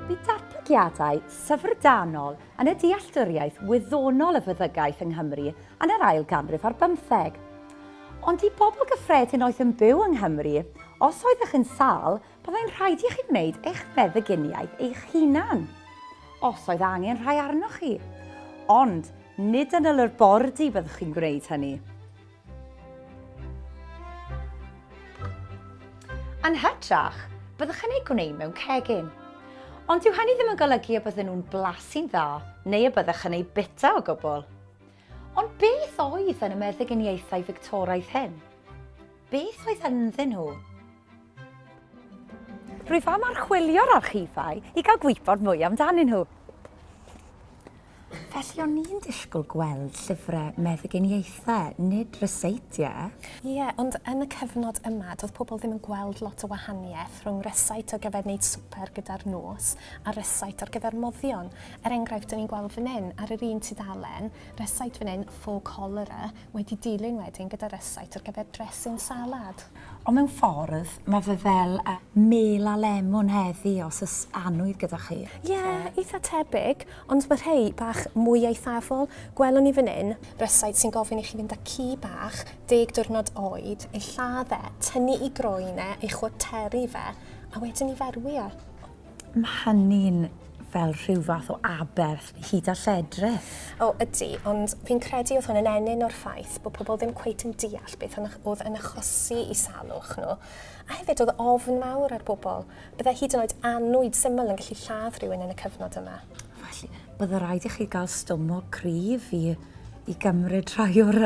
Bydd datblygiadau syfrdanol yn y dealltwriaeth wyddonol y feddygaeth yng Nghymru yn yr ail ganrif ar bymtheg. Ond i bobl gyffredin oedd yn byw yng Nghymru, os oeddech yn sâl, byddai'n rhaid i chi wneud eich meddyginiaeth eich hunan, os oedd angen rhai arnoch chi. Ond nid yn y labordy byddwch chi'n gwneud hynny. Yn hytrach, byddwch yn eu gwneud mewn cegin. Ond dyw hynny ddim yn golygu y bydden nhw'n blasu'n dda neu y byddwch yn eu bita o gwbl. Ond beth oedd yn y meddyginiaethau Fictoraidd hyn? Beth oedd ynddyn nhw? Rwyf am archwilio'r archifau i gael gwybod mwy amdanyn nhw. Felly o'n i'n disgwyl gweld llyfrau meddyginiaethau, nid ryseitiau. Ie, yeah, ond yn y cyfnod yma, doedd pobl ddim yn gweld lot o wahaniaeth rhwng rysait ar gyfer wneud swper gyda'r nos a rysait ar gyfer moddion. Er enghraifft, dyn ni'n gweld fan hyn, ar yr un tudalen, rysait fan hyn, faux cholera, wedi dilyn wedyn gyda rysait ar gyfer dressing salad. Ond mewn ffordd, mae fe fel y. Mêl a lemwn heddi, os oes annwyd gyda chi. Ie, eitha tebyg, ond mae rhei bach mwy eithafol. Gwelwn ni fan hyn. Rysáit sy'n gofyn i chi fynd â ci bach, deg diwrnod oed, ei lladd e, tynnu ei groen e, ei chwarteru fe, a wedyn ei ferwi e. Mae hynny'n fel rhyw fath o aberth hyd a lledrith. O, ydy, ond fi'n credu oedd hwn yn ennyn o'r ffaith bod pobl ddim cweit yn deall beth oedd yn achosi i salwch nhw, a hefyd oedd ofn mawr ar bobl. Byddai hyd yn oed annwyd syml yn gallu lladd rhywun yn y cyfnod yma. Felly, byddai rhaid i chi gael stumog cryf i, i gymryd rhai o'r,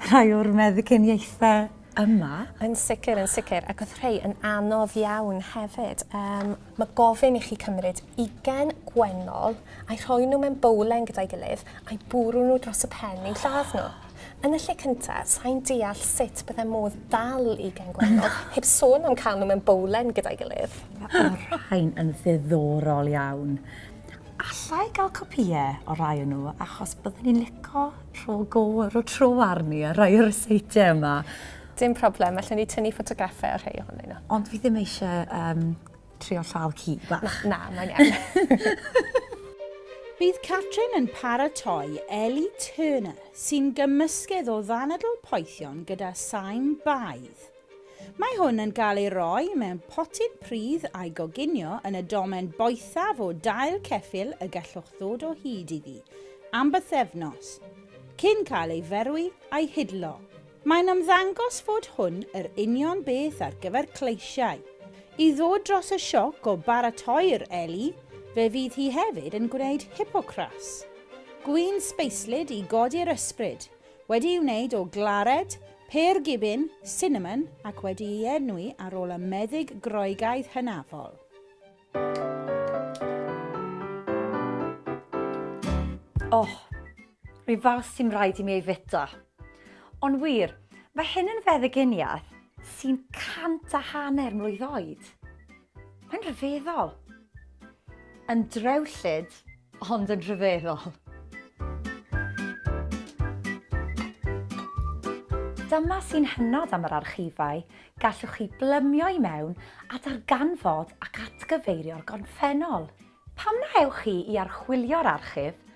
rhai o'r meddyginiaethau. yma. Yn sicr, yn sicr, ac oedd rhai yn anodd iawn hefyd. Um, mae gofyn i chi cymryd ugen gwennol a'i rhoi nhw mewn bowlen gyda'i gilydd a'i bwrw nhw dros y pen i'n lladd nhw. Yn y lle cyntaf, sa'n deall sut bydde modd dal i gen gwennol, heb sôn am cael nhw mewn bowlen gyda'i gilydd. Mae rhain yn ddiddorol iawn. Alla i gael copïau o rai o nhw, achos byddwn ni'n lico Rho go, rho tro arni ar rai o'r ryseitiau yma. Dim problem, allwn ni tynnu ffotograffau ar rhai ohonyn nhw. Ond fi ddim eisiau um, trio llaw ci bach. Na, na mae'n iawn. Bydd Catrin yn paratoi Ellie Turner, sy'n gymysgedd o ddanadl poethion gyda saim baedd. Mae hwn yn cael ei roi mewn potyn pridd a'i goginio yn y domen boethaf o dail ceffyl y gallwch ddod o hyd iddi am bythefnos, cyn cael ei ferwi a'i hidlo. Mae'n ymddangos fod hwn yr union beth ar gyfer cleisiau. I ddod dros y sioc o baratoi'r eli, fe fydd hi hefyd yn gwneud hipocras. Gwin sbeislyd i godi'r ysbryd, Wedi'i wneud o glared, pêr gibin, sinamon ac wedi'i enwi ar ôl y meddyg Groegaidd hynafol. Oh, rhyw fath sy'n rhaid i mi ei fita. Ond wir, mae hyn yn feddyginiaeth sy'n cant a hanner mlwydd oed. Mae'n rhyfeddol. Yn drewllyd, ond yn rhyfeddol. Dyma sy'n hynod am yr archifau, gallwch chi blymio i mewn a darganfod ac atgyfeirio'r gorffennol. Pam na ewch chi i archwilio'r archif